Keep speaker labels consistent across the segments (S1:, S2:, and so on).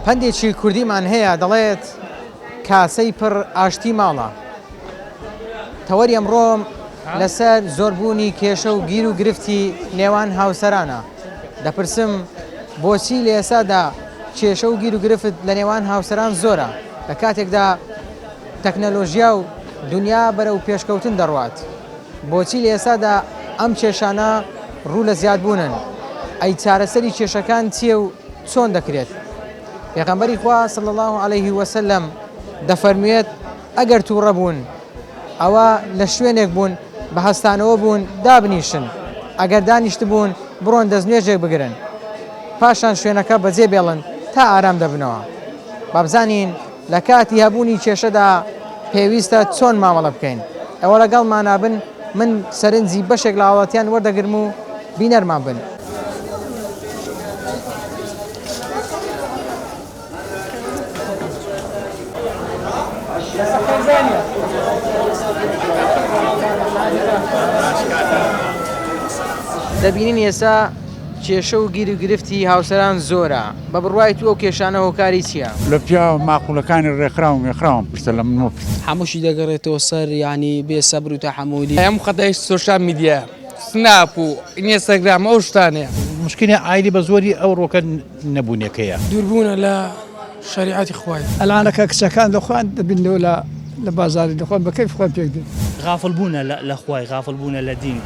S1: پەندێکی کوردیمان هەیە دەڵێت کاسەی پڕ ئاشتی ماڵە تەوەری ئەمڕۆم لەسەر زۆربوونی کێشە و گیر و گرفتی نێوان هاوسەرانە دەپرسم بۆچی لە ئێسادا کێشە و گیر و گرفت لە نێوان هاوسەران زۆرە لە کاتێکدا تەکنەلۆژیا و دنیا بەرەو پێشکەوتن دەڕوات بۆچی لە ئێستادا ئەم کێشانە ڕوو لە زیادبوونن؟ ئەی چارەسەری کێشەکان چییە و چۆن دەکرێت؟ پێغەمبەری خوا، صلی اللە علیه وسلم، دەفەرمووێت، ئەگەر تووڕە بوون، ئەوا لە شوێنێک بوون بە هەستانەوە بوون دابنیشن، ئەگەر دانیشتبوون بڕۆن دەستنوێژێک بگرن، پاشان شوێنەکە بەجێبێڵن تا ئارام دەبنەوە. با بزانین لە کاتی هەبوونی کێشەدا پێویستە چۆن مامەڵە بکەین؟ ئێوە لەگەڵمانا بن، من سەرنجی بەشێک لە هاوڵاتیان وەردەگرم و بینەرمان بن. دەبینین ئێستا. کێشە و گیروگرفتی هاوسەران زۆرە، بە بڕوای تو ئەو کێشانە هۆکاری چیە؟ لە پیاوە
S2: ماقولەکانی ڕێکخراو و مێخراوم پرسە لە من مەپرسە. هەمووشی دەگەڕێتەوە
S3: سەر یانی بێ سەبر و تەحەموولی. هەموو خەتای سۆشیال
S4: میدیایە سناپ و ئینێستاگرام ئەو شتانەیە. موشکیلی عایلی بە
S5: زۆری ئەوڕۆکە. نەبونەکەیە. دوربونە لە
S3: شەریعەتی خوای. ئەلعانە کە کچەکان لە
S6: خۆیان دەبیننەوە لە لە بازاری لە خۆیان بە کەیف خۆیان پێک دێن. غافڵ بونە لە
S7: لە خوای غافڵ بونە لە دین.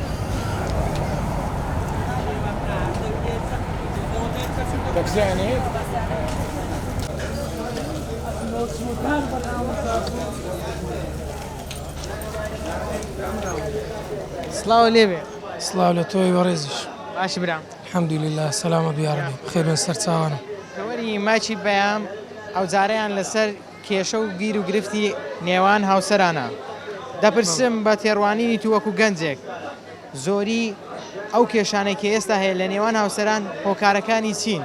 S1: سڵاو لێبێ. سڵاو لە تۆی
S3: بەڕێزیش. باشی برام.
S1: الحمد للە سەلامەت
S3: بی یارەبی بخێربێن سەرچاوانە. تەوەری مایکی
S1: پەیام ئەوجارەیان لەسەر کێشە و گیر و گرفتی نێوان هاوسەرانە دەپرسم بە تێڕوانینی تو وەکو گەنجێک زۆری ئەو کێشانەی کە ئێستا هەیە لە نێوان هاوسەران هۆکارەکانی چین؟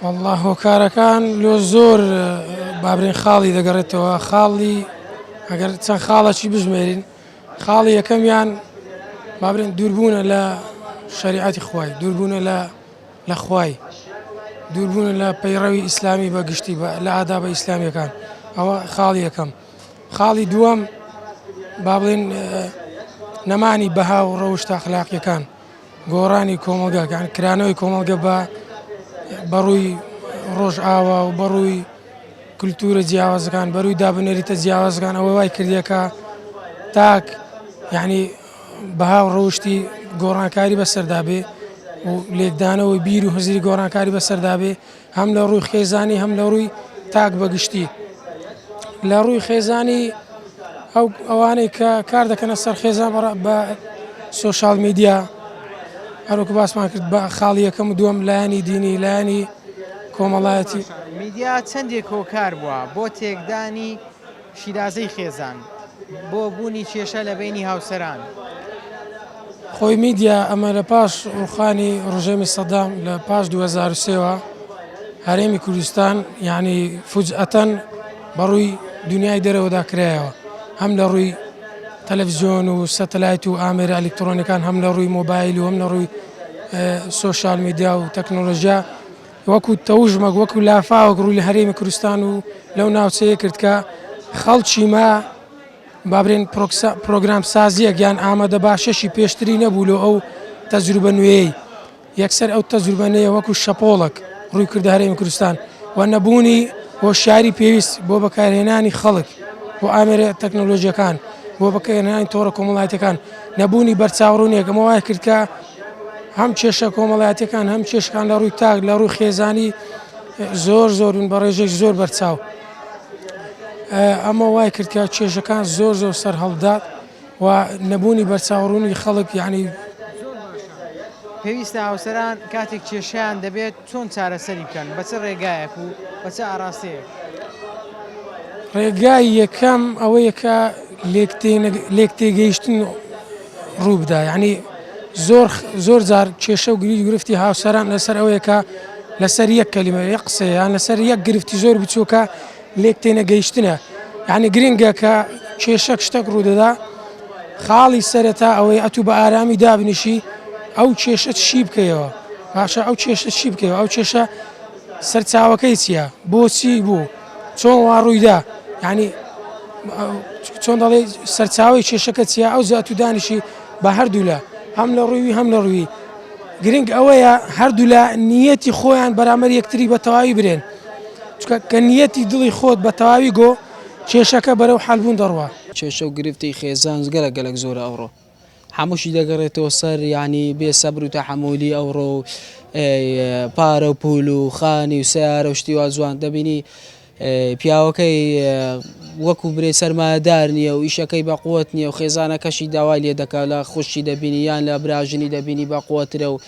S3: وەڵڵا هۆکارەکان لۆ زۆر بابرین خاڵی دەگەڕێتەوە خاڵی ئەگەر چەند خاڵەکی بژمێرین خاڵی یەکەمیان با بڵێن دووربوونە لە شەریعەتی خوای، دووربوونە لە لە خوای، دووربوونە لە پەیڕەوی ئیسلامی بە گشتی بە لە ئادابە ئیسلامیەکان ئەوە خاڵی یەکەم. خاڵی دووەم با بڵێن اه، نەمانی بەها و ڕەوشتە ئەخلاقیەکان. گۆڕانی کۆمەڵگاکان، کرانەوەی کۆمەڵگە بە بەڕووی ڕۆژئاوا و بەڕووی کللتوورە جیاوازەکان، بەرووی دابنەریتە جیاوازەکان ئەوە وای کردیەکە تاک یعنی بەها و ڕەوشی گۆڕانکاری بەسەردابێ و لێکدانەوەی بیر و هزری گۆڕانکاری بەسەردابێ. هەم لە ڕووی خێزانی هەم لە ڕووی تاک بە گشتی لە ڕووی خێزانی ئەو ئەوانەی کە کار دەکەنە سەر خێزان بەڕ بە سوۆشال میدیا هەروکە باسمان کرد بە خاڵی یەکەم و دووەم لایەنی دینی لایەنی کۆمەڵایەتی میدیا
S1: چەندێک کۆکار بووە بۆ تێکدانی شیرازەی خێزان بۆ بوونی کێشە لە بەینی هاوسەران.
S3: خۆی میدیا ئەمە لە پاش ڕووخانی ڕژێمی سەدام لە پاش دوو هەزار و سێ وە هەرێمی کوردستان یانی فوجئەتەن بە ڕووی دونیای دەرەوەدا کرایەوە هەم لە ڕووی تەلەفزیۆن و سەتەلایت و ئامێرە ئەلیکتڕۆنیەکان هەم لە ڕووی مۆبایل و هەم لە ڕووی سۆشیال میدیا و تەکنۆلۆژیا وەکو تەوژمەک وەکو لافاوەک ڕووی لە هەرێمی کوردستان و لەو ناوچەیە کرد کە خەڵکی ما بابرێن پرۆگرام سازیەک یان ئامادە باشەشی پێشتری نەبوو لۆ ئەو تەجروبە نوێی یەکسەر ئەو تەجروبەنەیە وەکو شەپۆڵک ڕووی کردە هەرێمی کوردستان و نەبوونی هۆشیاری پێویست بۆ بەکارهێنانی خەڵک بۆ ئامێرە تەکنۆلۆژیەکان بۆ بەکەێنانی تۆڕە کۆمەڵایەتەکان نەبوونی بەرچاوڕونێکەکەمە وای کردکە هەم کێشە کۆمەڵایەتیەکان هەم کێشکان لە ڕووی تاک لە ڕووی خێزانی زۆر زۆرون بە ڕێژێک زۆر بەرچاو ئەمە وای کردکە کێشەکان زۆر زۆر سەر هەڵدا و نەبوونی بەرچاوڕوونی خەڵک یعنی
S1: پێویستە هاوسەران کاتێک کێشیان دەبێت چۆن چارەسەری بکەن؟ بە چ ڕێگایەک و بە چ ئاراستەیەک؟ ڕێگای
S3: یەکەم ئەوەیە کە لێکتێگەیشتن ڕوو بدا، یانی زۆر جار کێشە و گرید و گرفتی هاوسەران لەسەر ئەوەیە کە لەسەر یەک کەلیمە، یەک قسەیان لەسەر یەک گرفتی زۆر بچووکە لێک تێنەگەیشتنە یعنی گرنگە کە کێشەک شتەک ڕوودەدا خاڵی سەرەتا ئەوەی ئەتوو بە ئارامی دابنیشی ئەو کێشە شی بکەیەوە باشە ئەو کێشە شی بکەیەوە ئەو کێشە سەرچاوەکەی چییە بۆچی بوو چۆن وا ڕوویدا ینی چۆن دەڵێ سەرچاوی کێشەکە چیە ئەو زیاتو دانیشی بە هەردوولا هەم لە ڕووی هەم لە ڕووی گرنگ ئەوەیە هەردوولا نیەتی خۆیان بەرامەر یەکتری بە تەواوی برێن چونکە کە نیەتی دڵی خۆت بە تەواوی گۆ، کێشەکە بەرەو حەل بوون دەڕوا. کێشە و گرفتی
S8: خێزان گەلەک گەلەک زۆرە ئەوڕۆ هەمووشی دەگەڕێتەوە سەر یانی بێ سەبر و تەحەمولی ئەوڕۆ و پارە و پول و خانی و سیارە و شتیوا جوان دەبینی پیاوەکەی وەکو برێ سەرمایەدار نییە و ئیشەکەی بە قوت نییە و خێزانەکەشی داوای لێ دەکات لە خوشتی دەبینی یان لە براژنی دەبینی بە قوترە و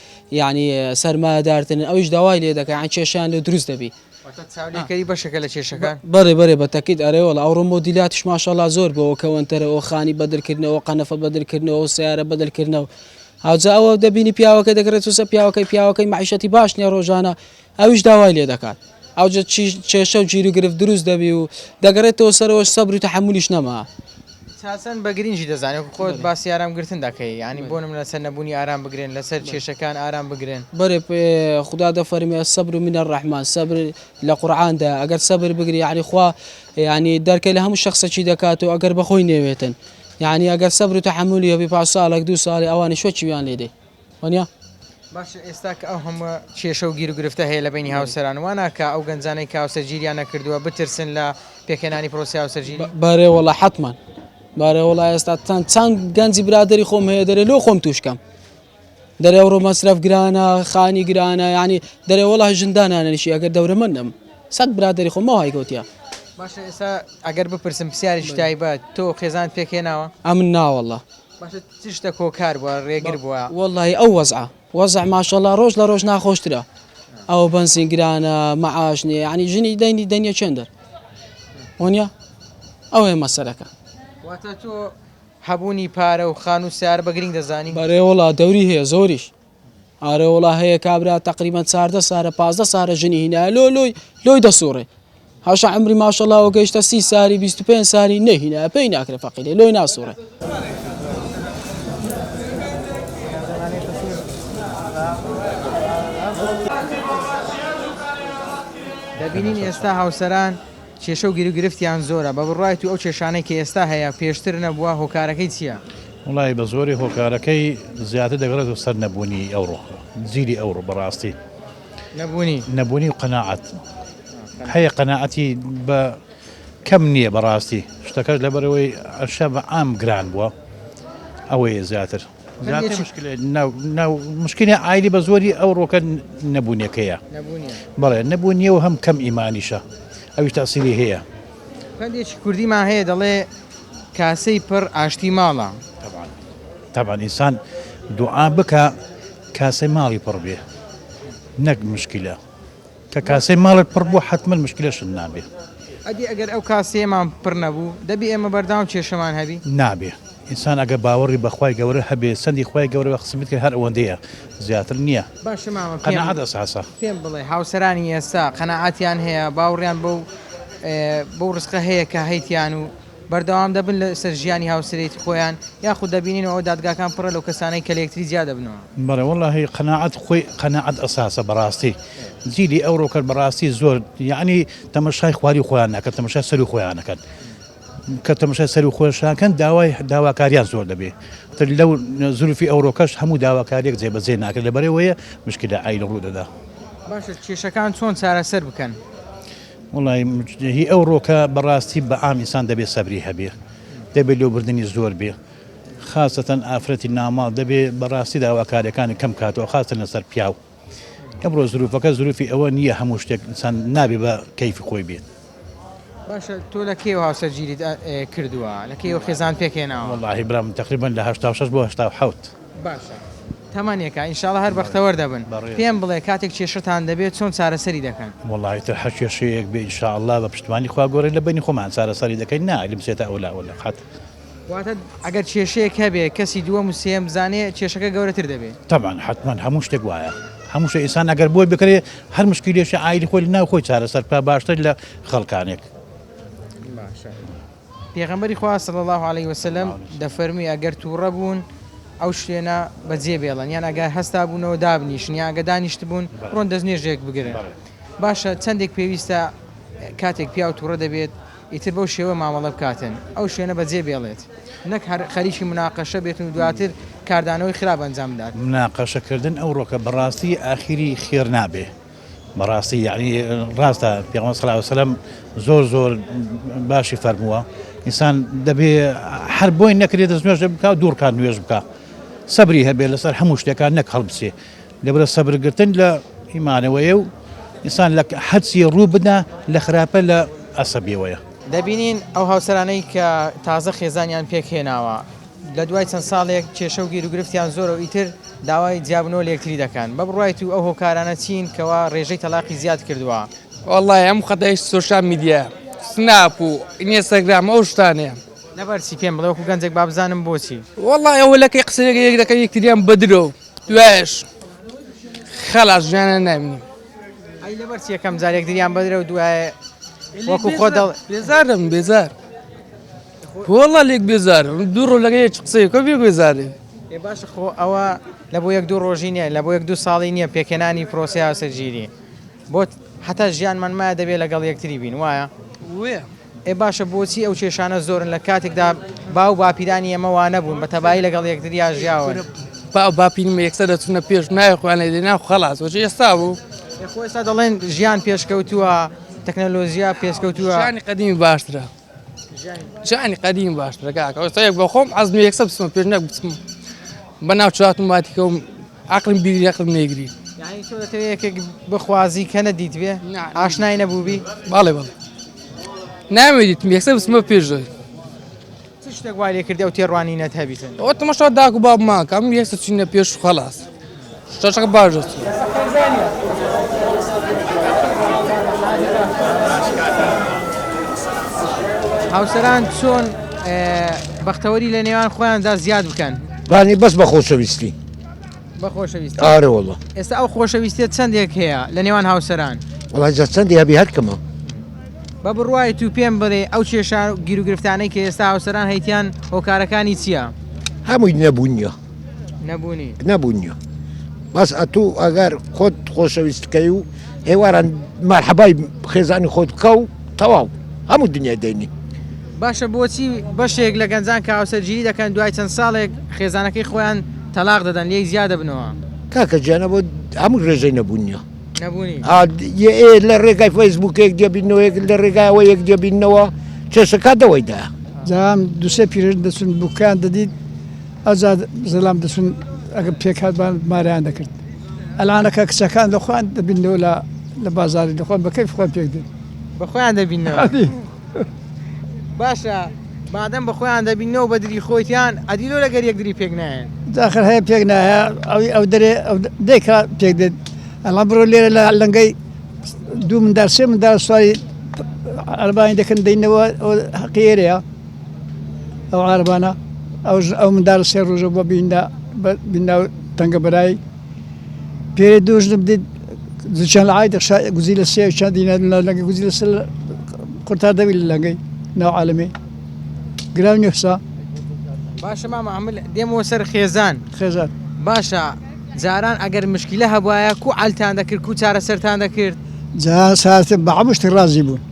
S8: یانی سەرمایەدارترن ئەویش داوای لێ دەکەن یان کێشیان لێ دروست دەبی واتە چاولێکەری
S1: بەشێکە لە کێشەکان بەڕێ بەرێ بە تەکیت
S8: ئەرێ وڵ ئەو ڕۆمۆ دیلاتش ماشەڵا زۆر بەوە کەوەنتەرە ئەو خانی بەدرکردنەوە قەنەفە بەدرکردنەوە و سیارە بەدرکردنەوە هاوجا ئەوە دەبینی پیاوەکە دەگرێت وسە پیاوەکەی پیاوەکەی معیشەتی باش نیە ڕۆژانە ئەویش داوای لێ دەکات. ئەوجە کێشە و گیروگرفت دروست دەبی و دەگەڕێتەوە سەرەوەش سەبر و تەحەمولیش نەما. چاسن بە
S1: گرینگی دەزانێ وەکو خۆت باسی ئارام گرتن دەکەی یانی بۆ نمونە لەسەر نەبونی ئارام بگرن لەسەر کێشەکان ئارام بگرن. بەرێ
S8: خودا دەفەرموێ الصبر من الرحمن سەبر لە قورعان دایە ئەگەر سەبر بگری یانی خوا یانی دەرکەی لە هەموو شەخسەکی دەکات و ئەگەر بەخۆی نەوێتن یانی ئەگەر سەبر و تەحەمولی هەبی پاش ساڵێک دوو ساڵێ ئەوانیش وەچویان لێ دێ. وانیە؟ باشە
S1: ئێستا کە ئەو هەموە کێشە و گیر و گرفتە هەیە لە بەینی هاوسەران وا ناکا ئەو گەنجانەی کە هاوسەرگیریان نەکردوە بترسن لە پێکهێنانی پرۆسەی هاوسەرگیری؟ بەرێ وەڵا حەتمان
S8: بارێ وەڵا ئێستا تان چەند گەنجی برادری خۆم هەیە دەرێ لۆ خۆم توشکەم دەرێ ڕۆ مەسرف گرانە خانی گرانە ینی دەرێ وەڵا ژندانانەشی ئەگەر دەورە من نەم سەد برادری خۆمەوە هایگوتیا باشە ئێستا
S1: ئەگەر بپرسم پرسیاری شتایبەت تۆ خێزان پێکێناوە ئەمن ناوەڵە
S8: باشە چ شتەک
S1: هۆکار بووە ڕێگر بووە؟ وەڵڵاهی ئەو وەزعە
S8: وەزع ماشەڵڵا ڕۆژ لە ڕۆژ ناخۆشترە ئەو بەنزین گرانە مەعاش نییە یعنی ژنی دەنگی دەنگە چێن دەر وەنیە ئەوێ مەسەرەکە واتە تۆ
S1: هەبوونی پارە و خان و سیار بە گرنگ دەزانی بەرێ وڵا دەوری هەیە
S8: زۆریش ئارە وەڵا هەیە کابرا تەقریبەن چاردە سارە پازدە سارە ژنی هینایە لۆ لۆی لۆی دەسوڕێ هەشە عمری ماشەڵاوە گەیشتە سی ساری 25 ساری نەهینایە پێی ناکرێ فەقیرێ لۆی ناسوڕێ
S1: دەبینین ئێستا هاوسەران کێشە و گیرو گرفتیان زۆرە بە بڕای تو ئەو کێشانەی کە ئێستا هەیە پێشتر نەبووە هۆکارەکەی چییە؟ وەڵایی بە زۆری
S5: هۆکارەکەی زیاتر دەگەڕێتەوە سەر نەبوونی ئەوڕۆ جیلی ئەوڕۆ بەڕاستی نەبوونی نەبوونی و قەنەعات هەیە قەنەعەتی بە کەم نییە بەڕاستی شتەکەش لەبەرەوەی ئەشە بە ئام گران بووە ئەوەیە زیاتر مشکلی ئایلی بە زۆری ئەو ڕۆکە نەبوونەکەیە بەڵێ نەبوو نیە و هەم کەم ئیمانیشە ئەوی تاسیری هەیە پەندێکی
S1: کوردیمان هەیە دەڵێ، کاسەی پڕ ئاشتی ماڵە. تەبعەن
S5: تەبعەن ئینسان دوعا بکا کاسەی ماڵی پڕ بێ نەک مشکلە. کە کاسەی ماڵت پڕ بوو حەتمەن مشکلەشت نابێ. ئەدی ئەگەر
S1: ئەو کاسەیەمان پڕ نەبوو، دەبی ئێمە بەردەوام کێشەمان هەبی؟ نابێ. ئینسان
S5: ئەگەر باوەڕی بە خوای گەورە هەبێ، سەندی خوای گەورە بە خزمەت کرد هەر ئەوەندەیە. زیاتر نیە باشە مامە پێم قەناعەت
S1: ئەس هەسە.
S5: پێم بڵێ هاوسەرانی
S1: ئێستا قەناعەتیان هەیە باوڕیان بەو بەو ڕزقە هەیە کە هەیتیان و بەردەوام دەبن لە سەر ژیانی هاوسەرێتی خۆیان یاخود دەبینین ئەوە دادگاکان پڕە لەو کەسانەی کە لە یەکتری جیا دەبنەوە. بەڵێ وەڵاهی
S5: قەناعەت خۆی قەناعەت ئەساسە بەڕاستی جیلی ئەوڕۆکەر بەڕاستی زۆر یەعنی تەمەشای خواری خۆیان نەکەن تەمەشای سەروی خۆیان نەکەن. کە تەمەشای سەرو خۆیشان کەن داوای داواکاریان زۆر دەبێ تر لەو زروفی ئەوڕۆکەش هەموو داواکاریەک جێ بەجێ ناکە لەبەرەوەیە مشکلە ئای لە ڕوودەدا. باشە
S1: کێشەکان چۆن چارەسەر بکەن؟
S5: وەڵای هی ئەو ڕۆکە بەڕاستی بە عام ئینسان دەبێ سەبری هەبێ دەبێ لۆ بردننی زۆر بێ خاستەن ئافرەتی ناماڵ دەبێ بەڕاستی داواکاریەکانی کەم کاتەوە خاستە لەسەر پیاو. ئەمڕۆ زروفەکە زروفی ئەوە نییە هەموو شتێک ئینسان نابێ بە کەیفی خۆی بێت. باشە
S1: تۆ لە کێوە هاوسەرگیریت کردووە لە کێوە خێزان پێک هێناوە؟ وەڵاهی برام تقریبا
S5: لە هەشتا و شەش بۆ هەشتا و حەوت. باشە
S1: تەمەنێکە ان شاء اللە هەر بەختەوەر دەبن بەڕێزم. پێم بڵێ کاتێک کێشەتان دەبێت چۆن چارەسەری دەکەن؟ وەڵاهی تر هەر
S5: کێشەیەک بێ ان شاء اللە بە پشتمانی خوا گۆڕێ لە بەینی خۆمان چارەسەری دەکەین نا ئەگرم چێتە ئەولا وەلا قەت. واتە
S1: ئەگەر کێشەیەک هەبێ کەسی دووەم و سێیەم بزانێ کێشەکە گەورەتر دەبێ. تەبعەن حەتمەن هەموو
S5: شتێک وایە هەموو شتێ ئینسان ئەگەر بۆی بکرێ هەر مشکیلەیشی عایلی خۆی لەناو خۆی چارەسەر بکا باشتر لە خەڵکانێک.
S1: پێغەمبەری خوا صلی اللە علیە وسلم دەفەرمووی ئەگەر تووڕە بوون ئەو شوێنە بەجێ بێڵن یان ئەگەر هەستا بوونەوە دابنیشن یان ئەگەر دانیشتبوون بڕۆن دەستنوێژێک بگرن باشە چەندێک پێویستە کاتێک پیاو تووڕە دەبێت ئیتر بەو شێوە مامەڵە بکاتن، ئەو شوێنە بەجێ بێڵێت، نەک هەر خەریکی مناقەشە بێتن و دواتر کاردانەوەی خراپ ئەنجام بدات. مناقەشە کردن
S5: ئەوڕۆکە بەڕاستی ئاخیری خێر نابێ، بەڕاستی یەعنی ڕاستە پێغەمبەر صلی اللە علیە وسلم زۆر زۆر باشی فەرمووە ئینسان دەبێ هەر بۆی نەکرێت دەست نوێژ بکا و دوو ڕکات نوێژ بکا سەبری هەبێ لەسەر هەموو شتێکان نەک هەڵبچێ لەبرە سەبر گرتن لە هی مانەوەیە و ئینسان لە حەدسی ڕوو بدا لە خراپە لە ئەسەبیەوەیە. دەبینین
S1: ئەو هاوسەرانەی کە تازە خێزانیان پێک هێناوە لە دوای چەند ساڵێک کێشە و گیروگرفتیان زۆرە و ئیتر داوای جیابوونەوە لە یەکتری دەکەن بە بڕوای تو ئەو هۆکارانە چین کەوا ڕێژەی تەلاقی زیاد کردووە؟ وەڵڵاهی ئەم
S4: خەتای سۆشیال میدیایە سناپ و ئینێستاگرام ئەو شتانەیە. لەبەرچی؟ پێم بڵێ
S1: وەکو گەنجێک با بزانم بۆچی؟ وەڵڵاهی ئەوە لەکەی
S4: قسەیەک یەک دەکەن یەکتریان بە درۆ. دوایش خەڵا ژیانە نابینم. ئەی لەبەر
S1: چی یەکەم جار یەکدریان بەدرە و دوای وەکو خۆ دەڵ بێزارم بێزار
S4: وەڵا لێک بێزارم دوو ڕۆ لەگە یەک قسەیەکە بێ بێزارێ ئێ باش خۆ
S1: ئەوە لە بۆ یەک دوو ڕۆژی نییە لە بۆ یەک دوو ساڵی نییە پێکێنانی پرۆسیاسە ژیری بۆت حتا ژیانمان مایە دەبێت لەگەڵ یەکتری بین وایە؟ وێ
S4: ئێ باشە
S1: بۆچی ئەو کێشانە زۆرن لە کاتێکدا باو و باپیرانی ئێمە وانەبوون بە تەبایی لەگەڵ یەکتریا ژیاون. باو باپیرم
S4: یەکسەر دەچوونە پێش و ناوی خۆیان لێ دەهێنا و خەڵاس، بۆچی ئێستا بوو؟ ئێ خۆ ئێستا دەڵێن
S1: ژیان پێشکەوتووە، تەکنەلۆژیا پێشکەوتووە. ژیانی قەدیمی باشترە.
S4: ژیانی قەدیمی باشترە کاکە. ئێستا بەخۆم حەزم لێیە یەکسەر بچمە پێش نەک بچم بە ناو چوارچوماتی کەوم. عەقڵم بیگری عەقڵم نەیگری. یانی تۆ دەتەوێ
S1: یەکێک بخوازی کە نەدیتبێ؟ ئاشنای نەبووبی؟ بەڵێ
S4: بەڵێ نامەوێ دیتم یەکسەر بچمە پێش دەوێ. چ
S1: شتێک وای لێ کردی ئەو تێڕوانینەت هەبی سەر؟ ئەوە تەماشا داک و
S4: بابمان کە ئەمن یەکسەر چووینە پێش و خەڵاس. شتەشەکە باش دەچوو.
S1: هاوسەران چۆن بەختەوەری لە نێوان خۆیاندا زیاد بکەن؟ بانی بەس بە
S9: خۆشەویستی. بە
S1: خۆشەویست ئارە وڵە ئێستا
S9: ئەو خۆشەویستە
S1: چەندێک هەیە لە نێوان هاوسەران وڵاجە چەندی
S9: هەبی هەر کەمە بە
S1: بڕوای تو پێم بڵێ ئەو کێشا گیروگرفتانەی کە ئێستا هاوسەران هەیتیان هۆکارەکانی چییە؟ هەمووی
S9: نەبوونیە نەبوونی
S1: نەبوونیە
S9: بەس ئەتوو ئەگەر خۆت خۆشەویستکەی و هێواران مەرحەبای خێزانی خۆت بکە و تەواو هەموو دنیای دەینی. باشە بۆچی
S1: بەشێک لە گەنجان کە هاوسەرگیری دەکەن دوای چەند ساڵێک خێزانەکەی خۆیان تەلاق دەدەن لێی جیا دەبنەوە؟ کاکە گیان ئەوە
S9: هەموو رێژەی نەبوون نیە نەبوونی ئا
S1: یە ئێ لە
S9: رێگای فەیسبووکێک دێبینەوە یەک لە رێگای ئەوە یەک دێبینەوە کێشەکە دەوەیدا. جا ئەم
S6: دوسێ پیرەژن دەچون بوکەیان دەدیت. ئەجا زلام دەچون ئەگەر پێکهات بان مارەیان دەکرد ئەلانەکە کچەکان لە خۆیان دەبینەوە لە لە بازاری دەخۆن بە کەیف خۆیان پێک دێت بە خۆیان دەبینەوە
S1: ئەدی باشە مادەم بە خۆیان دەبینەوە بە دری خۆیان ئەدی لۆ لەگەر یەک دری پێک نایەن داخر هەیە پێک
S6: نایە ئەوی ئەو دەرێ ئەو د- دێکا پێک دێت ئەڵام بڕۆ لێرە لە لەنگەی دوو مندار سێ مندار سواری ئەربانی دەکەن دەینەوە ئەو حەقی ئێرەیە ئەو عارەبانە ئەو ژ- ئەو منداڵە سێ ڕۆژە بۆ بیندا بە بیندا و تەنگە بەرایی پێرێ دوو ژنم دید زوچان لە عایدە شا گوزی لە سێ چند دینا لە لەگە گوزی لە سێ قورتار دەوی لە لەگەی ناو عالەمێ گراو نیحسا باشە
S1: مامە ئەمە لە- دێمەوە سەر خێزان خێزان باشە جاران ئەگەر مشکلە هەبوایە کو عەلتان دەکرد کو چارەسەرتان دەکرد جا ساتە
S6: بە عەمشتی ڕازی بوون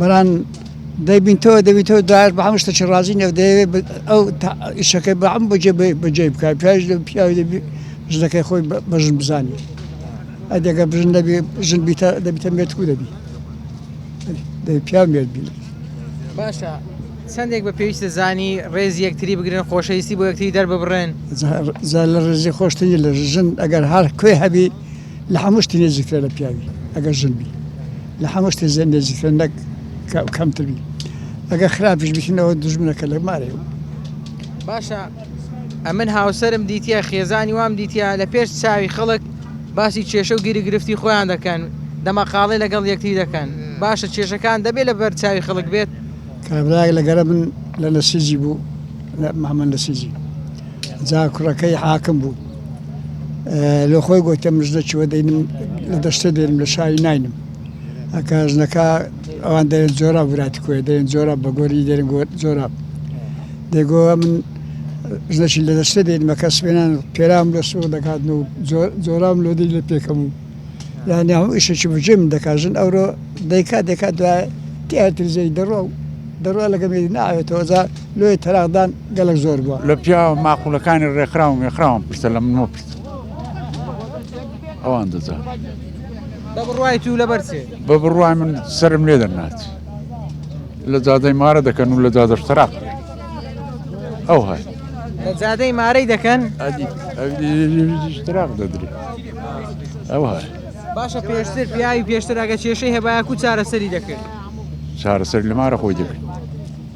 S6: بران دەبین تۆ دەبین تۆ دایش بە هەموو شتێکی ڕازی نیە دەیەوێت ئەو ئیشەکەی بە ئەم بەجێ بەجێ بکە پیاش لە پیاوی دەبی ژنەکەی خۆی بەژن بزانی ئەدەگە بژن دەبی ژن بیتە دەبیتە مێتکو دەبی دەبی پیاو مێت بی باشە
S1: چندێک بە پێویستە زانی ڕێز یەکتری بگرن خۆشەویستی بۆ یەکتری دەرببڕێن زە- زە لە
S6: ڕێزی خۆشتری لە ژن ئەگەر هەر کوێ هەبی لە هەموو شتی نێزیکترە لە پیاوی ئەگەر ژن بی لە هەموو شتی زێن نێزیکترە نەک کەمتر بی ئەگەر خراپیش بکردنەوە دژمنەکە لە مارێ باشە
S1: ئەمن هاوسرم دیتە خێزانی وام دیتە لە پێش چاوی خەڵک باسی کێشە و گیری گرفتی خۆیان دەکەن دەمەقاڵی لەگەڵ یەکتی دەکەن باشە کێشەکان دەبێت لە بەر چاوی خەڵک بێت کابراای لەگەرە
S6: من لە نەسیجی بوو محمد نەسیجی جا کوڕەکەی حاکم بوو لۆ خۆی گۆتە مژدە چوە دەینم لە دەشتێ دێنم لە شاوی ناینم ئەکە ژنەکە ئەوان دەێن جۆرا وراتی کوێ دەێن جۆرا بە گۆری دێن گۆت جۆرا دەگۆ من ژنەشی لە دەشتێ دێنمەکە سوێنان پێرام لە سوور دەکات و جۆرام لۆدی لە پێکەم و یانی هەم ئیشێکی بژێ من دەکات ژن ئەوڕۆ دەیکات دەکات دوای تیاتریزەی دەڕۆ دەڕۆ لەگەمێ ناوێتەوەزار لۆی تەراغدان گەلەک زۆر بوە. لە پیاوە ماقولەکانی
S2: ڕێکخراو و مێخراوان پرسە لە من مەپرسە ئەوان دەزانن. بە
S1: بڕوای تو لەبەر چێ؟ بە بڕوای من
S2: سەرم لێ دەنات لە جادەی مارە دەکەن و لە جادەش تەراق ئەو هەر لە جادەی
S1: مارەی دەکەن تراق
S2: دەدرێ ئەو هەر باشە پێشتر
S1: پیاوی پێشتر ئەگە کێشەی هەبایە کو چارەسەری دەکرد چارەسەر
S2: لە مارە خۆی دەکرد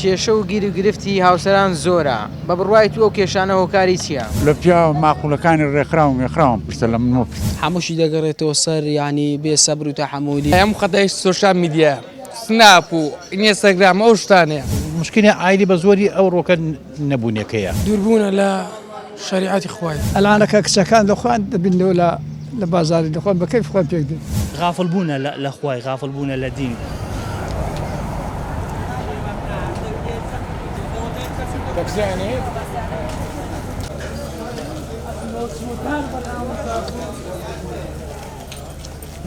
S1: کێشە و گیروگرفتی هاوسەران زۆرە، بە بڕوای تو ئەو کێشانە هۆکاری چیە؟ لە پیاوە
S2: ماقولەکانی ڕێکخراو و مێخراوم پرسە لە من مەپرسە. هەمووشی دەگەڕێتەوە
S8: سەر یانی بێ سەبر و تەحەموولی. هەموو خەتای سۆشیال
S4: میدیایە سناپ و ئینێستاگرام ئەو شتانەیە. موشکیلی عایلی بە
S5: زۆری ئەوڕۆکە. نەبونەکەیە. دوربونە لە
S3: شەریعەتی خوای. ئەلانە کە کچەکان لە
S6: خۆیان دەبیننەوە لە لە بازاری لە خۆیان بە کەیف خۆیان پێک دێن. غافڵ بونە لە
S7: لە خوای غافڵ بونە لە دین.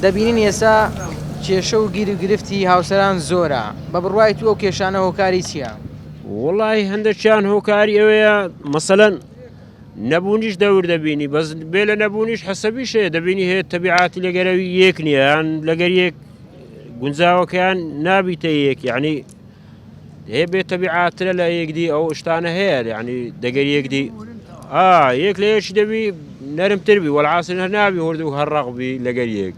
S1: دەبینین ئێستا کێشە و گیر و گرفتی هاوسەران زۆرە بە بڕوای تو ئەو کێشانە هۆکاری چیە؟ وەڵاهی
S10: هەندەکیان هۆکاری ئەوەیە مەسەلەن نەبوونیش دەور دەبینی بەس بێ لە نەبوونیش حەسەبی شەیە دەبینی هەیە تەبیعاتی لەگەرەوی یەک نییان لەگەر یەک گونجاوەکەیان نابیتە یەک یعنی هەیە بێ تەبیعاترە لە یەکدی ئەو شتانە هەیە ینی دەگەر یەکدی یەک لە یەکی دەبی نەرمتر بی وەعاسی هەر نابی هورد و هەرڕقبی لەگەر یەک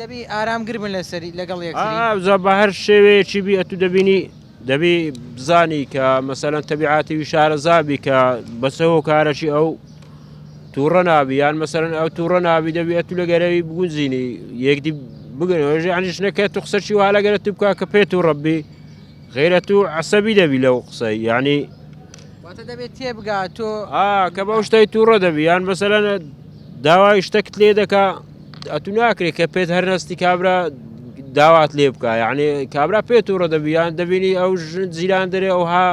S10: دەبی
S1: ئارام گربن لەسەری لەگەڵ یەک زە بە هەر
S10: شێوەیەکی بی ئەتو دەبینی دەبی بزانی کە مەسەلەن تەبیعاتیوی شارەزابی کە بەسە هۆکارەکی ئەو تووڕە نابی یان مەسەرن ئەو تووڕە نابی دەبی ئەتو لە گەرەوی بگونجینی یەکدی بگەنەوەژ ئەنیشنە کە تو قسەکی وا لەگەرە تو بکە کە پێت و ڕبی غیرە تو عسەبی دەبی لەو قسە ینی دەبێت
S1: تێبگا تۆ کە بەو شتەی
S10: تووڕە دەبی یان مەسەلەن داوای شتەکت لێ دەکا ئەتوو ناکرێت کە پێت هەر نستی کابرا داوات لێ بکە یعنی کابرا پێت و ڕدەبییان دەبینی ئەو ژن جیران دەرێ ئەوها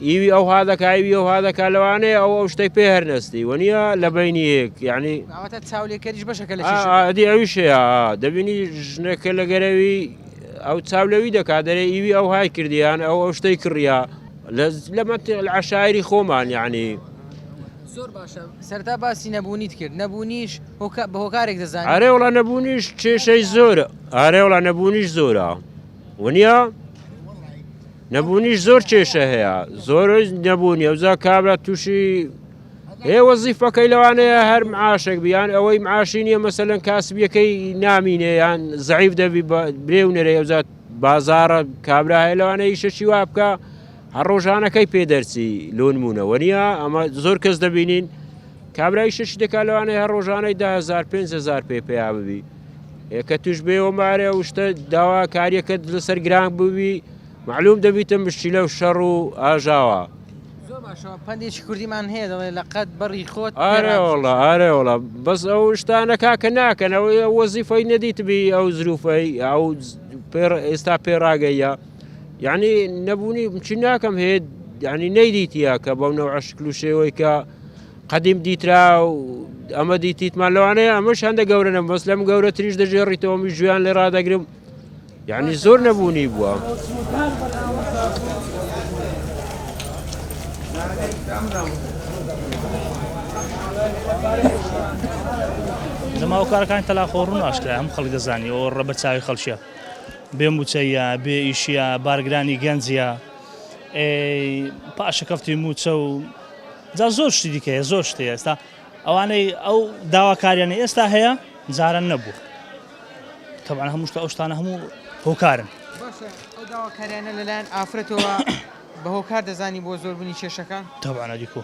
S10: ئیوی ئەوها دەکایوی ئەوها دەکا لەوانەیە ئەو ئەو شتەی پێ هەر نستی وەنیە لە بینی یەک یعنی چاولێکەریش
S1: بەشەکە لە ئەدی ئەویش
S10: دەبینی ژنەکە لە گەرەوی ئەو چاولەوی دەکات دەرێ ئیوی ئەو های کردیان ئەو ئەو شتەی کڕە لە منطق العشائری خۆمان یعنی
S1: زۆر باشە سەرەتا باسی نەبوونیت کرد نەبوونیش هۆکا- بە هۆکارێک دەزانیت ئارێ وڵا نەبوونیش
S10: کێشەی زۆرە ئارێ وڵا نەبوونیش زۆرە ونیا نەبوونیش زۆر کێشە هەیە زۆر نەبوونی ئەوزا کابرا تووشی هەیە وەزیفەکەی لەوانەیە هەر معاشێک بیان ئەوەی معاشی نییە مەسەلەن کاسبیەکەی نامینێ یان زعیف دەبی بە برێ و نەرێ ئەوزا بازارە کابرا هەیە لەوانەیە ئیشەکی وا بکە هەر ڕۆژانەکەی پێ دەرچی لۆنمونە وەنیا ئەمە زۆر کەس دەبینین کابرای شش دەکا لەوانەیە هەر ڕۆژانەی دهزار پێهزار پێ پێیا ببی کە توش بێ وەمارە وشتە داواکاریەکە لەسەر گران بووی معلوم دەبیتە مشتیلە و شەڕ و ئاژاوە
S1: پندێکی کوردیمان هەیە دەڵێ لە قەت بەڕی خۆت ئارەوەڵە ئارەوەڵە
S10: بەس ئەو شتانەکە کە ناکەنەوەی وەزیفەی نەدیتبی ئەو زروفەی ئەو ئێستا پێڕاگەیە یعنی نەبوونی چی ناکەم هەیە یعنی نەیدیتە کە بەو نەوە شکل و شێوەی کە قدیم دیترا و ئەمە دیتیتمان لەوانەیە ئەمەش هەندە گەورە نە بەس لەم گەورە تریش دەژێڕیتەوەمی ژویان لێ ڕدەگرم یعنی زۆر نەبوونی بووە.
S7: لەماوە کارەکان تەلاخۆڕون ئاشکرا ئەم خەڵک دەزانانی ئەو ڕە بە چاوی خەڵکیە بێ موچەیە بێ ئیشیە بارگرانی گەنجیە ئێ پاشەکەفتی موچە و جا زۆر شتی دیکەیە زۆر شتی ئێستا ئەوانەی ئەو داواکاریانی ئێستا هەیە جاران نەبوو تەبان هەمووشتە ئەو شتانە هەموو هۆکارن داواکاریانە
S1: لەلایەن ئافرەتەوە بە هۆکار دەزانی بۆ زۆربوونی کێشەکە تەبانە دیکۆ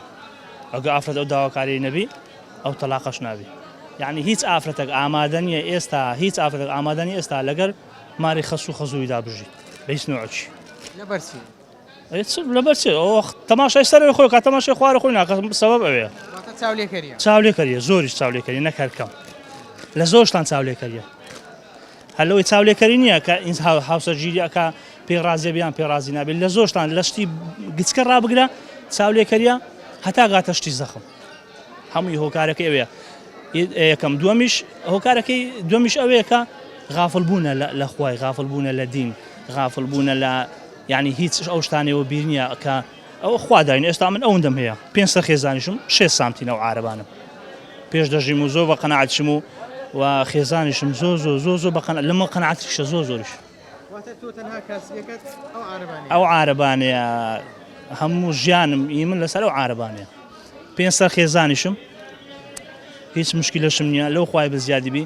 S7: ئەگە ئافرەت ئەو داواکاری نەبی ئەو تەلاقەش نابی یەعنی هیچ ئافرەتەک ئامادە نیە ئێستا هیچ ئافرەتەک ئامادە نیە ئێستا لەگەر ماری خەسو و خەزوویدا بژی بە هیچ نوعکی لەبەر چی
S1: هیچ
S7: لەبەر چی ئەو تەماشای سەرەوەی خۆی کات تەماشای خوارە خۆی ناکات سەبەب ئەوێ واتە چاولێکەریە
S1: چاولێکەریە زۆریش
S7: چاولێکەری نەک هەر کەم لە زۆرشتان چاولێکەریە هەر لەوەی چاولێکەری نییە کە ئینس هاو- هاوسەرگیری ئەکا پێ ڕازیە بیان پێ ڕازی نابێت لە زۆرشتان لە شتی گچکە ڕابگرە چاولێکەریە هەتا گاتە شتی زەخم هەمووی هۆکارەکەی ئەوەیە یەکەم دووەمیش هۆکارەکەی دومیش ئەوەیە کە غافل بوونە لە خوای غافل بوونە لە دین غافل بوونە لە ینی هیچ ئەو شتانەوە بیرنیە کە ئەو خواداین ئێستا من ئەوەندەم هەیە پێ سە خێزانیشم شێ سامتینە و عربانم پێش دەژیم و زۆر بە قەنەعاتشم و و خێزانیشم زۆ زۆ زۆ زۆ بەقەن لەمە قەنعاتیشە زۆ زۆرش ئەو عارەبانەیە هەموو ژیانم ئی من لەسەر ئەو عارەبانەیە پێنج سەر خێزانیشم هیچ مشکلشم نییە لەو خخوای بە زیادی بی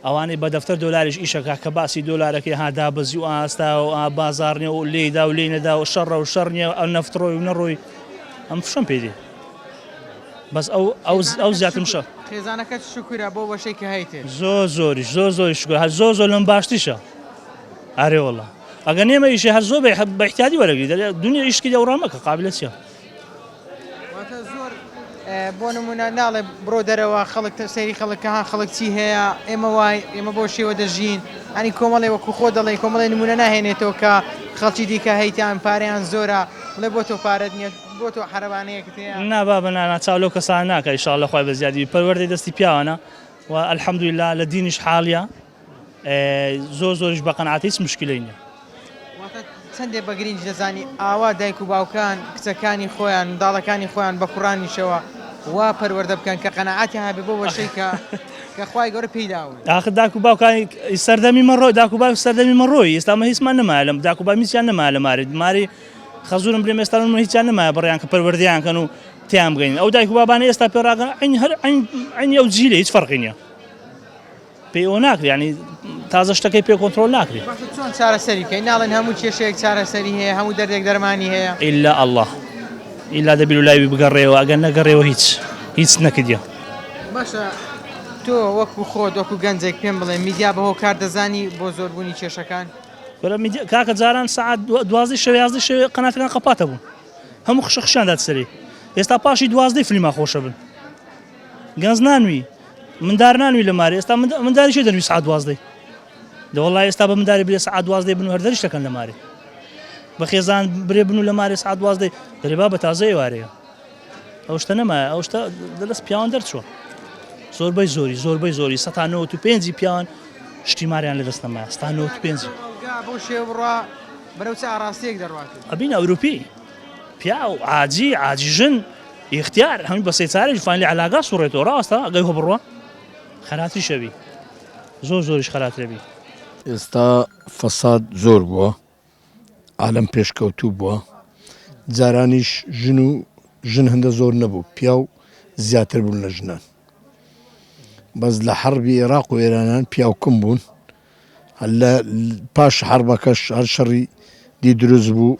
S7: ئەوانەی بە دەفتەر دۆلاریش ئیشەکە کە باسی دۆلارەکەی هادا بەزی و ئاستا و ئا بازارنێ و لێدا و لێ نەدا و شەڕە و شەڕ نیە ئەو نەفتڕۆی و نەڕۆی ئەم فشم پێدی بەس ئەو ئەو زیاتم شە خێزانەکەت شکرە
S1: بۆ وەشێکی هەیتێ زۆ زۆری زۆ زۆری
S7: شکر هە زۆ زۆ لەم باشتیشە ئارێ وەڵا ئەگە نێمە ئیشێ هەر زۆر بە احتیادی وەرەگری دەێ دنیا ئیشکی دەوڕا مەکە قابلە چیە
S1: بۆ نمونە ناڵێ بڕۆ دەرەوە خەڵک سەیری خەڵکە ها خەڵک چی هەیە ئێمە وای ئێمە بۆ شێوە دەژین ئەنی کۆمەڵێ وەکو خۆ دەڵێ کۆمەڵی نمونە ناهێنێتەوە کە خەڵکی دیکە هەیتان پاریان زۆرە بڵێ بۆ تۆ پارەت نیە بۆ تۆ حرەوانەیەکت نابا بەنانا چاو
S7: لەو کەسان ناکە شاء لە خخوای بە زیادی پەروەەردەی دەستی پیاوانە و الحەمدویلا لە دینیش حاڵە زۆر زۆریش بە قەناعەتە هیچ مشکلەی نیە. واتە
S1: چەندێ بە گرینج دەزانی ئاوا دایک و باوکان کچەکانی خۆیان منداڵەکانی خۆیان بە کوڕانیشەوە وا پەروەردە بکەن کە قەناعەتیان هەبێ بەو وەشەی کە کە خوای گەورە پێی داون. ئاخر داک و باوکانی
S7: ئی سەردەمی من ڕۆ داک و باوک سەردەمی من ڕۆی ئێستا مە هیچمان نەمایە لەم داک و با هیچیان نەمایە لە ماری ماری خەزورم بلێم ئێستا من هیچیان نەمایە بڕیان کە پەروەردەیان کەن و تێیان بگەین ئەو دایک و بابانە ئێستا پێ ڕاگەن عەین هەر عەین عەینی ئەو جیلە هیچ فەرقی نیە. پێی ئەوە ناکرێ یعنی تازە شتەکەی پێ کۆنترۆل ناکرێ باشە چۆن چارەسەری
S1: کەین ناڵێن هەموو کێشەیەک چارەسەری هەیە هەموو دەردێک دەرمانی هەیە ئیلا ئەڵڵا
S7: ئیلا دەبیر و لایوی بگەڕێەوە ئەگەر نەگەڕێەوە هیچ هیچ نەکردە باشە
S1: تۆ وەکو خۆت وەکو گەنجێک پێم بڵێ میدیا بە هۆکار دەزانی بۆ زۆربوونی کێشەکان برا میدیا کاکە
S7: جاران سعات دو- دوازدە شەوێ یازدە شەوێ قەناتەکان قەپاتە بوون هەموو خشە خشیان دات سەری ئێستا پاشی دوازدەی فلیما خۆشە بن گەنج نانوی مندار نانوی لە مارێ ئێستا منداری شێ دەنوی سعات دوازدەی لە وڵی ئێستا بە منداری برێ سعات دوازدەی بن هەر دەریشتەکەن لە مارێ بە خێزان برێ بن و لە مارێ سعات دوازدەی دەرێبا بە تازەی وارەیە ئەو شتە نەمایە ئەو شتە دەست پیاوان دەرچوە زۆربەی زۆری زۆربەی زۆری سە و پێنجی پیاوان شتی ماریان لە دەست نەمایە ستا پێنج بۆ شێوڕە
S1: بەرەوچە ئاراستێک دەڕات ئەبین ئەوروپی
S7: پیا و ئاجی ئاجی ژن ئیختیار هەمی بە سێچارەیش فاین لە علاگا سوڕێتەوە ڕاستە ئەگەی هۆ بڕوا خەراتریشە بی زۆر زۆریش خەراترە بی ئێستا
S9: فەساد زۆر بووە عالم پێشکەوتوو بووە جارانیش ژن و ژن هەندە زۆر نەبوو پیا و زیاتر بوون لە ژنان بەس لە حەڕبی عێراق و ئێرانان پیاوکم بوون لە پاش حەڕبەکەش هەر شەڕی دی دروست بوو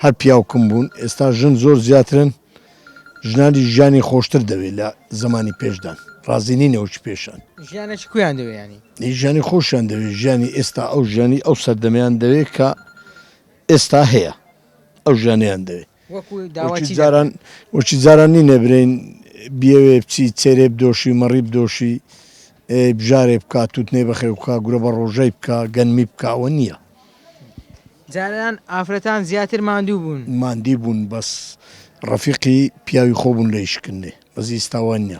S9: هەر پیاو کم بوون ئێستا ژن زۆر زیاترن ژنانی ژیانی خۆشتر دەوێت لە زمانی پێشدان ڕازی نینە وچ پێشان ژیانێکی کویان
S1: دەوێنی ژیانی خۆشیان دەوێت
S9: ژیانی ئێستا ئەو ژیانی ئەو سەردەمیان دەوێت کە ئێستا هەیە ئەو ژیانیان دەوێت وەکی جاران نینە برێین بیەوێ بچی چێرێ بدۆشی مەڕی بدۆشی بژارێ بکا توتنێ بەخێو بکا گورە بە ڕۆژەی بکا گەنمی بکا ئەوە نییە
S1: جاران ئافرەتان زیاتر ماندوو بوون ماندی
S9: بوون بەس ڕەفیقی پیاوی خۆ بوون لە ئیشکردنێ بەس ئیستا وا نییە.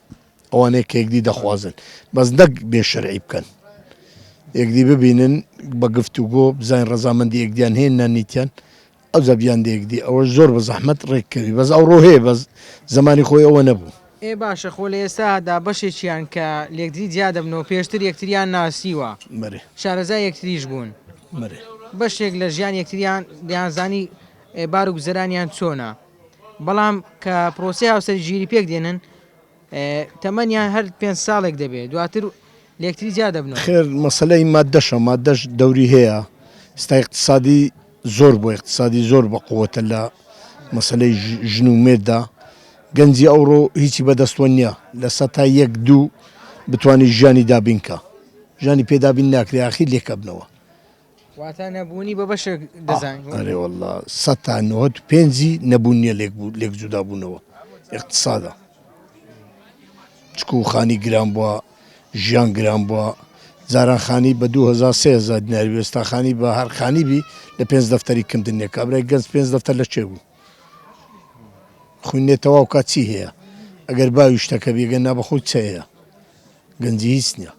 S9: ئەوانەی کە یەکدی دەخوازن بەس نەک بێ شەرعی بکەن یەکدی ببینن بە گفتوگۆ بزانین ڕەزامەندی یەکدیان هەیە نانیتیان ئەو زەبیان دەیەکدی ئەوە زۆر بە زەحمەت ڕێککەوی بەس ئەو ڕۆ هەیە بەس زمانی خۆی ئەوە نەبوو. ئێ باشە خۆ لە
S1: ئێستادا بەشێکیان کە لەیەکتری جیا دەبنەوە پێشتر یەکتریان ناسیوە شارەزای یەکتریش بوون بەشێک لە ژیانی یەکتریان دەیانزانی بار و گوزەرانیان چۆنە بەڵام کە پرۆسەی هاوسەری ژیری پێک دێنن تەمەنیان هەر پێنج ساڵێک دەبێت دواتر لێکتری جیا دەبنەوە. خێر مەسەلەی
S9: ماددەشە، ماددەش دەوری هەیە، ئێستا ئیقتسادی زۆر بووە، ئیقتسادی زۆر بە قووەتە لە مەسەلەی ژن و مێرددا، گەنجی ئەوڕۆ هیچی بە دەستەوە نییە، لە سەتا یەک دوو بتوانێت ژیانی دابین کا، ژیانی پێ دابین ناکرێ ئاخیر لێک ئەبنەوە. واتا
S1: نەبوونی بە بەشێک دەزان ئەرێ واللە
S9: سەد تا نۆت پێنجی نەبوون نییە لێک بوو لێک جودا بوونەوە اقتصادە چکو خانی گران بووە ژیان گران بووە جاران خانی بە 2023 دیناری وێستا خانی بە هەر خانی بی لە پێنج دەفتەری کمدنێک کابرای گەنج پێنج دەفتەر لە چێ بوو خوێنێتەوە کات چی هەیە ئەگەر باویشتەکە بێگەن نا بەخۆی چەیە گەنجی هیچ نیە.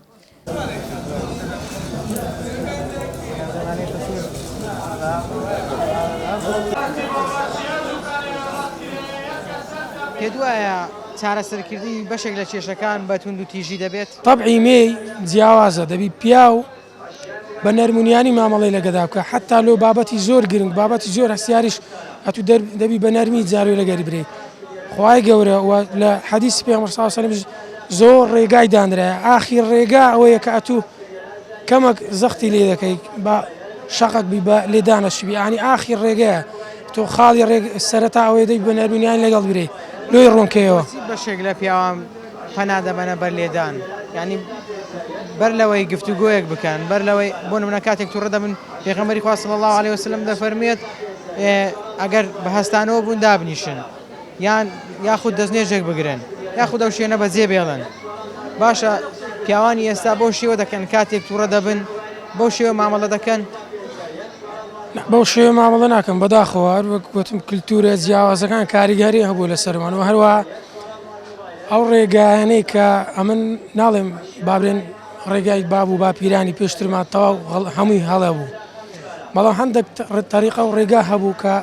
S1: پێت وایە چارەسەرکردنی بەشێک لە کێشەکان بە توندوتیژی دەبێت؟ تەبعی مێی
S3: جیاوازە دەبی پیاو. بە نەرمونیانی مامەڵەی لە گەدا بکە حەتا لۆ بابەتی زۆر گرنگ بابەتی زۆر هەستیاریش ئەتو دەر دەبی بە نەرمی جارێ لە گەری برێی خوای گەورە و لە حەدیسی پێغەمبەر صلی الله علیه و سلم زۆر ڕێگای دانرایە ئاخیر ڕێگا ئەوەیە کە ئەتو کەمەک زەختی لێ دەکەی بە شەقەک بی بە لێدانەشی بی ئانی ئاخیر ڕێگەیە تۆ خاڵی ڕێگ سەرەتا ئەوەی دەی بە نەرمونیان لەگەڵ برێی لۆی ڕوونکەیەوە بەشێک لە پیاوان
S1: پەنا دەبەنە بەر لێدان یانی بەر لەوەی گفتوگۆیەک بکەن بەر لەوەی بۆ نمونە کاتێک توڕە دەبن پێغەمبەری خوا صلی الله علیه وسلم دەفەرموێت ئەگەر بە هەستانەوە بوون دابنیشن یان یاخود دەستنێژێک بگرن یاخود ئەو شوێنە بەجێ بێڵن باشە پیاوانی ئێستا بۆ شێوە دەکەن کاتێک توڕە دەبن بۆ شێوە مامەڵە دەکەن
S3: بەو شێوە مامەڵە ناکەم بەداخەوە هەر وەک گوتم کللتورە جیاوازەکان کاریگەری هەبوو لە سەرمانەوە هەروە ئەو ڕێگایانەی کە ئەمن ناڵێم بابرێن ڕێگای باب و باپیرانی پێشترمان تەواو هەمووی هەڵە بوو بەڵام هەندێک تەریقە و ڕێگا هەبوو کە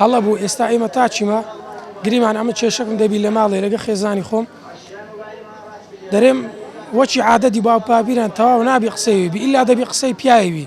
S3: هەڵە بوو ئێستا ئێمە تا چیمە گریمان ئەمە کێشەکم دەبی لە ماڵێ لەگە خێزانی خۆم دەرێم وەچی عادەتی باوپاپیران تەواو نابی قسەوی بی ئللا دەبی قسەی پیاوی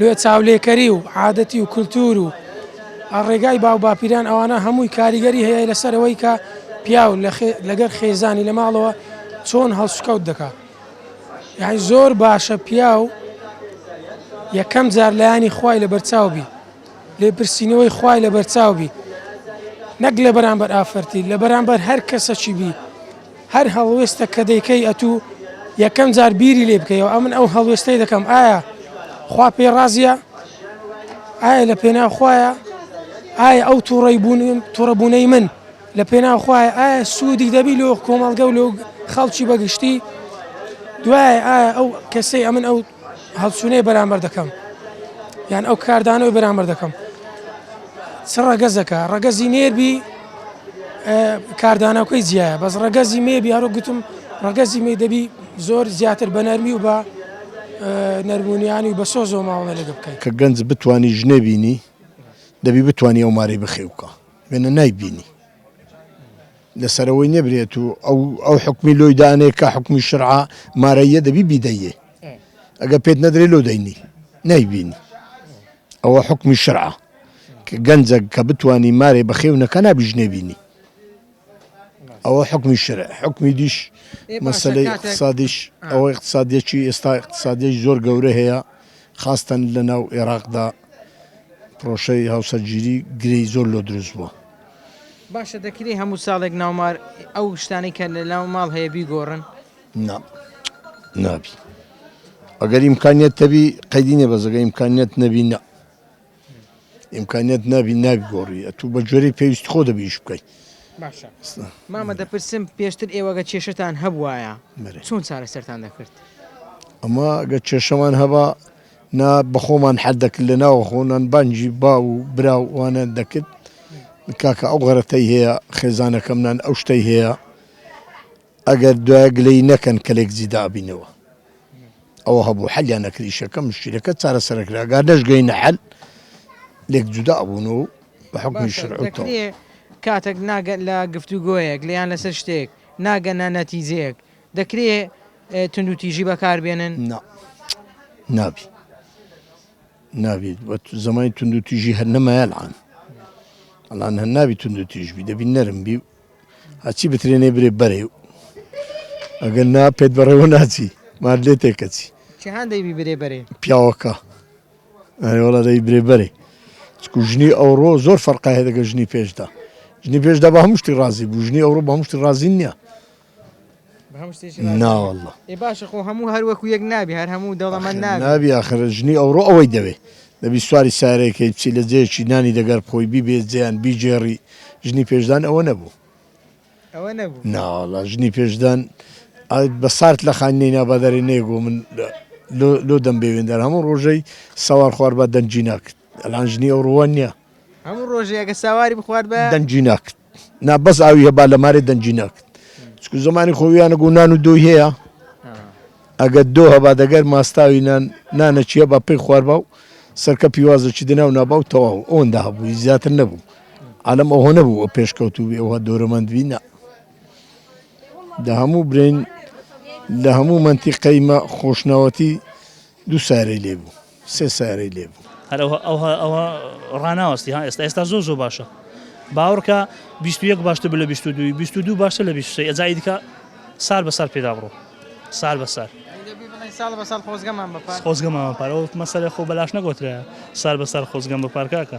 S3: لۆ چاولێکەری و عادەتی و کلتور و ڕێگای باو باپیران ئەوانە هەمووی کاریگەری هەیە لەسەر ئەوەی کە پیاو لەگەر خێزانی لە ماڵەوە چۆن هەڵسوکەوت دەکا یعنی زۆر باشە پیاو یەکەم جار لایانی خوای لە بەرچاو بی لێپرسینەوەی خوای لە بەرچاو بی نەک لە بەرامبەر ئافرەتی لە بەرامبەر هەر کەسەکی بی هەر هەڵوێستەک کە دەیکەی ئەتوو یەکەم جار بیری لێ بکەیەوە ئەمن ئەو هەڵوێستەی دەکەم ئایا خوا پێ ڕازە ئایا لە پێنا خویە ئایا ئەو تووڕی بوون توڕەبوونەی من لە پێنا خویە ئایا سوودی دەبی لۆ کۆمەڵگە و لۆ خەڵکی بەگشتی دوای ئایا ئەو کەسەی ئەمن ئەو هەڵچوونەی بەرامبەر دەکەم یان ئەو کاردانەوەی بەرامبەر دەکەم چ ڕەگەزەکە ڕەگەزی نێربی کاردانەکەی جیایە بەس ڕەگەزی مێبی هەرو گوتم ڕەگەزی مێ دەبی زۆر زیاتر بە نەرمی و بە نەرمونیانی و بە سۆ زۆ ماوەڵە لەگە بکەیت کە گەنج بتانی
S9: ژنێ بینی دەبی بتانی ئەو ماری بخێوکە وێنە نایبینی. لە سەرەوەی نەبرێت و ئەو ئەو حکومی لۆی دانێ کە حکومی شرعە مارەیە دەبی بیدەیێ ئەگە پێت نەدرێ لۆ دەینی نایبینی ئەوە حکومی شرعە گەنجە کە بتانی مارێ بەخێونەکە نابژنێ بینی ئەوە حکومی شرع حکومی دیش مەسلەی اقتصادیش ئەوە اقتصادیەکی ئێستا اقتصادیش زۆر گەورە هەیە خاستن لە ناو عێراقدا پرۆشەی هاوسەرگیری گرێی زۆر لۆ دروست بووە باشە
S1: دەکرێ هەموو ساڵێک ناومار ئەو شتانەی کە لە ناو ماڵ هەیە بیگۆڕن؟ نا
S9: نابی ئەگەر ئیمکانیت تەبی قەیدی نیە بەزەگە ئیمکانیت نەبی نا ئیمکانیت نابی ناگۆڕی ئەتوو بە جۆری پێویست خۆ دەبیش بکەیت باشە
S1: مامە دەپرسم پێشتر ئێوەگە کێشتان هەبواە چۆن چارە سەران دەکرد ئەمە
S9: گە کێشەمان هەبا نا بەخۆمان حەر دەکرد لە ناوە خۆ نان بانگی باو و برا و وانان دەکرد کاکە ئەو غەرە تەی هەیە خێزانە کەم نان ئەو شتەی هەیە ئەگەر دوایە گلەی نەکەن کەلێک زیدە ئەبینەوە ئەوە هەبوو حەلیان نەکرد ئیشەکە مشکلەکە چارە سەرەکرا گار نەشگەی نەحل لێک جودا ئەبوون و بە حکومی شرعوتەوە کاتێک
S1: ناگەن لە گفتوگۆیەک لیان لەسەر شتێک ناگەنە نەتیجەیەک دەکرێ توندوتیژی بەکار بێنن؟ نا نابی
S9: نابی زمانی توندوتیژی هەر نەمایە الان الان هەر نابی توندوتیژ بی دەبی نەرم بی و هەچی بترێنێ برێ بەرێ و ئەگەر نا پێت بەڕێوە ناچی مار لێ تێکەچی چ هەندەی بی برێ
S1: بەرێ پیاوەکە
S9: ئەرێوەڵە دەی برێ بەرێ چکو ژنی ئەوڕۆ زۆر فەرقایە دەگە ژنی پێشدا ژنی پێشدا بە هەمشتی ڕازی بوو ژنی ئەوڕۆ بە هەمشتی ڕازی نییە ناوەڵڵا باشە خۆ هەموو
S1: هەر وەکو یەک نابی هەر هەموو دەوڵەمەند نابی نابی ئاخر
S9: ژنی ئەوڕۆ ئەوەی دەوێ دەبی سواری سارێکەی بچی لە جێیەکی نانی دەگەر خۆی بیبێ جێیان بیگێڕی ژنی پێشدان ئەوە نەبوو ئەوە نەبوو ناوەڵڵا ژنی پێشدان بە سارد لە خانی نەینا بەدەرێ نێگۆ من لۆ دەم بێوێندەر هەموو ڕۆژەی سەوار خوار بە دەنجی ناکرد ئەلان ژنی ئەو ڕووە نییە هەموو ڕۆژێگە
S1: ساواری بخوارد بە دەنجی ناکرد
S9: نا بەس ئاوی هەبا لە مارێ دەنگی ناکرد چکو زمانی خۆ ویانە گو نان و دۆی هەیە ئەگە دۆ هەبا دەگەر ماستاوی نان نانە چیە با پێی خواربا و سەرکە پیوازە چی دنا و نابا و تەواو ئەوەندا هەبوو زیاتر نەبوو عالم ئەوە نەبوو پێشکەوت و ئەوها دۆرەمەند وینا لە هەموو برین لە هەموو منتیقەیمە خۆشنەوەتی دوو سارەی لێ بوو سێ سارەی لێ بوو. هەر ئەوە ئەوە ئەوە
S7: ڕاناوەستی ها ئێستا ئێستا زۆر زۆر باشە باوڕکە بیست و یەک باشتر بە لە بیست و دووی بیست و دوو باشتر لە بیست و سێ ئەجا ئیدکە سار بە سار پێدا بڕۆ سار بە سار دەبی بڵێی ساڵ بە ساڵ خۆزگەمان بە پار خۆزگەمەوە پار ئەو مەسەلە خۆ بەلاش نەگۆترە سار بە سار خۆزگەم بە پارکاکە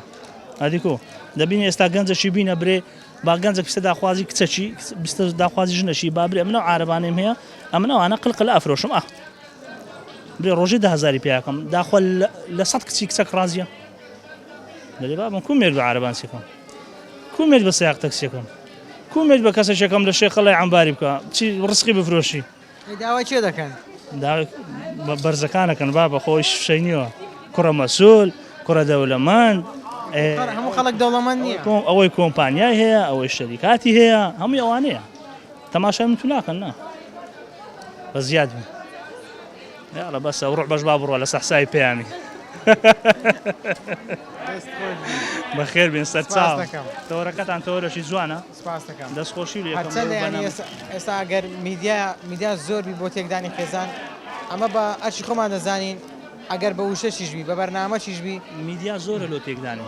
S7: ئەدیکۆ دەبین ئێستا گەنجەشی بینە برێ با گەنجە کچە داخوازی کچەکی بیستە داخوازی ژنەشی بابرێ منە عربانێم هەیە ئەمنەوانە قلقل ئەفرۆشم ئە برێ ڕۆژێ دە هەزاری پیاکەم داخوا لە سەد کچی کچەک ڕازیە دەێ بابم کو مێرد بە عربان سێکەم کو مێرد بە سیاق تەکسێکم کو مێرد بە کەسە شەکەم لە شێخە لای ئەمباری بکە چی ڕسقی بفرۆشی داوای چێ دەکەن
S1: بەرزەکانەکەن
S7: با بە خۆی شەینیەوە کوڕە مەسول کوڕە دەولەمان هەموو
S1: خەڵک دەوڵەمەند نیە ئەوەی کۆمپانیای
S7: هەیە ئەوەی شەریکاتی هەیە هەمووی ئەوانەیە تەماشای من تو ناکەن نا بە زیاد بن یاڕە بەسە ڕوح بەش با بڕە لە سەحسای پەیامی بەخێر بێن سەرچاو تەوەرەکەتان تەوەرەشی جوانە دەستخۆشی
S1: ئێستا گەر میدیا میدیا زۆربی بۆ تێکدانی خێزان ئەمە بە ئەرشی خۆمان دەزانین ئەگەر بە وشەشیشبی بە بەرنامەشیشبی میدیا زۆرە لۆ
S7: تێکدانی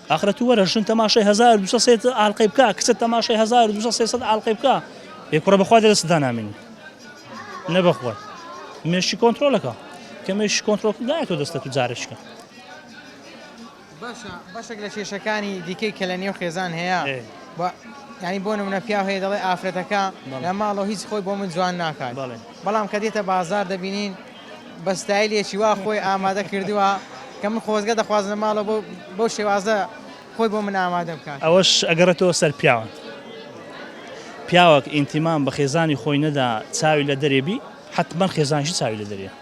S7: ئاخرە تو وەرە ژن تەماشای هەزار و دوو سەد سێ سەد ئالقەی بکا کچە تەماشای هەزار و دوو سەد سێ سەد ئالقەی بکا ئێ کوڕە بەخوا دەستت دانامێنی نە بەخوا مێشکی کۆنترۆلەکە کە مێشکی کۆنترۆل نایەتەوە دەستە تو جارێکە باشە
S1: بەشێک لە کێشەکانی دیکەی کە لە نێو خێزان هەیە ئێ. بە ینی بۆ نمونە پیاو هەیە دەڵێ ئافرەتەکە بەڵێ. لە ماڵەوە هیچ خۆی بۆ من جوان ناکات بەڵێ. بەڵام کە دێتە بازار دەبینین بە ستایلێکی وا خۆی ئامادە کردووە کە من خۆزگە دەخوازم لە ماڵەوە بەو بەو شێوازە خۆی بۆ من ئامادە بکات. ئەوەش ئەگەڕێتەوە
S7: سەر پیاوان. پیاوەک ئینتیمام بە خێزانی خۆی نەدا چاوی لە دەرێ بی، حەتمەن خێزانیشی چاوی لە دەرێیە.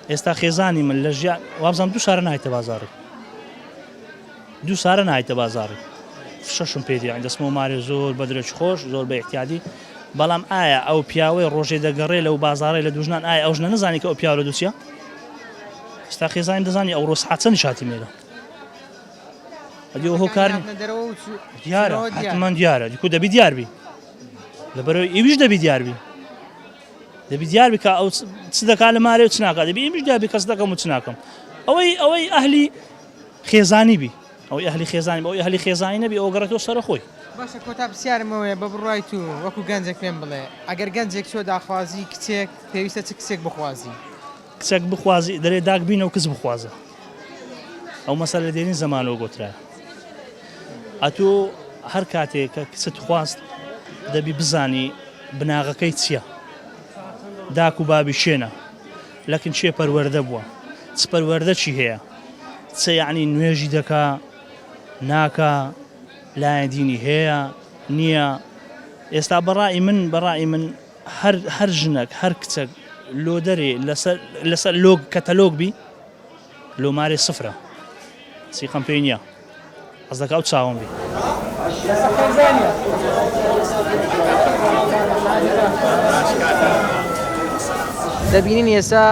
S7: ئێستا خێزانی من لە ژیا، وابزانم دوو شارە نایتە بازاڕی. دوو سارە نایتە بازاڕی فشەشم پێ دیان دەسمە و مارێ زۆر بە درەچ خۆش زۆر بە احتیادی بەڵام ئایا ئەو پیاوەی ڕۆژێ دەگەڕێ لەو بازارێ لە دوژنان ئایا ئەو ژنە نزانانی کە ئەو پیاوە لە دوچە ستا خێزانی دەزانی ئەو ڕۆژ حچەنی شاتی مێرە ئەدی ئەو هۆکار دیارە حتممان دیارە دیکو دەبی دیاربی لەبەرەوە ئیویش دەبی دیاربی دەبی دیار بکە ئەو چ دەکات لە مارێ و چناکات دەبی ئیمیش دیار بکەس دەکەم و چناکەم ئەوەی ئەوەی ئەهلی خێزانی بی ئەوەی ئەهلی خێزانی بەوەی ئەهلی خێزانی نەبی ئەوە گەڕێتەوە سەرە خۆی باشە کۆتا پرسیارم
S1: ئەوەیە بە بڕوای تو وەکو گەنجێک پێم بڵێ ئەگەر گەنجێک چوە داخوازی کچێک پێویستە چ کچێک بخوازی کچێک
S7: بخوازی دەرێ داک بینە و کچ بخوازە ئەو مەسە لە دێنی زەمانەوە گۆترا ئەتو هەر کاتێک کە کچت خواست دەبی بزانی بناغەکەی چییە داک و بابی شوێنە لەکن چێ پەروەردە بوە چ پەروەردە چی هەیە چ یەعنی نوێژی دەکا ناکا لایەن دینی هەیە نییە ئێستا بەڕای من بەڕای من هەر ژنەک هەر کچەک لۆ دەرێ لەسەر لۆگ کەتەلۆگ بی لۆمارێ سفرە سیقەم پێی نییە
S1: دەبینین ئێستا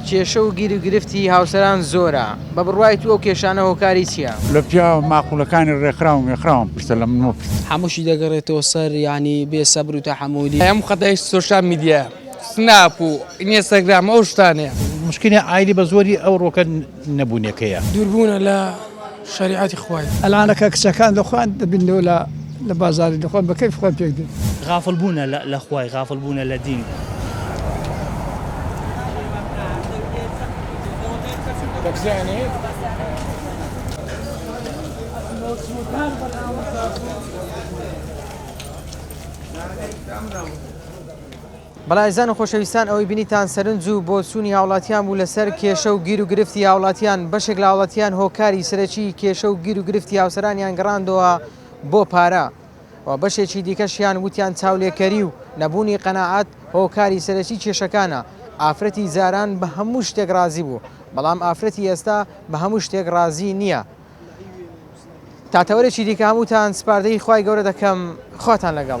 S1: کێشە و گیر و گرفتی هاوسەران زۆرە، بە بڕوای تو ئەو کێشانە هۆکاری چیە؟ لە پیاوە
S2: ماقولەکانی ڕێکخراو و مێکخراوم پرسە لە من مەپرسە. هەمووشی دەگەڕێتەوە
S8: سەر یانی بێ سەبر و تەحەمولی. هەموو خەتای سۆشیال
S4: میدیایە سناپ و ئینیستاگرام ئەو شتانەیە. موشکیلی عایلی بە
S5: زۆری ئەوڕۆکە. نەبونەکەیە. دوربونە لە
S3: شەریعەتی خوای. ئەلعانە کە کچەکان
S6: لە خۆیان دەبیننەوە لە لە بازاری لە خۆیان بە کەیف خۆیان پێک دێن. غافڵ بونە لە
S7: لە خوای غافڵ بونە لە دین.
S1: بەڵێ ئازیزان و خۆشەویستان ئەوەی بینیتان سەرنج و بۆچوونی هاوڵاتیان بوو لەسەر کێشە و گیر و گرفتی هاوڵاتیان، بەشێک لە هاوڵاتیان هۆکاری سەرەکی کێشە و گیر و گرفتی هاوسەرانیان گەڕاندەوە بۆ پارە و بەشێکی دیکەشیان وتیان چاولێکەری و نەبوونی قەناعەت هۆکاری سەرەکی کێشەکانە، ئافرەتی جاران بە هەموو شتێک ڕازی بوو بەڵام ئافرەتی ئێستا بە هەموو شتێک ڕازی نییە. تا تەوەرێکی دیکە هەمووتان سپاردەی خوای گەورە دەکەم خواتان لەگەڵ.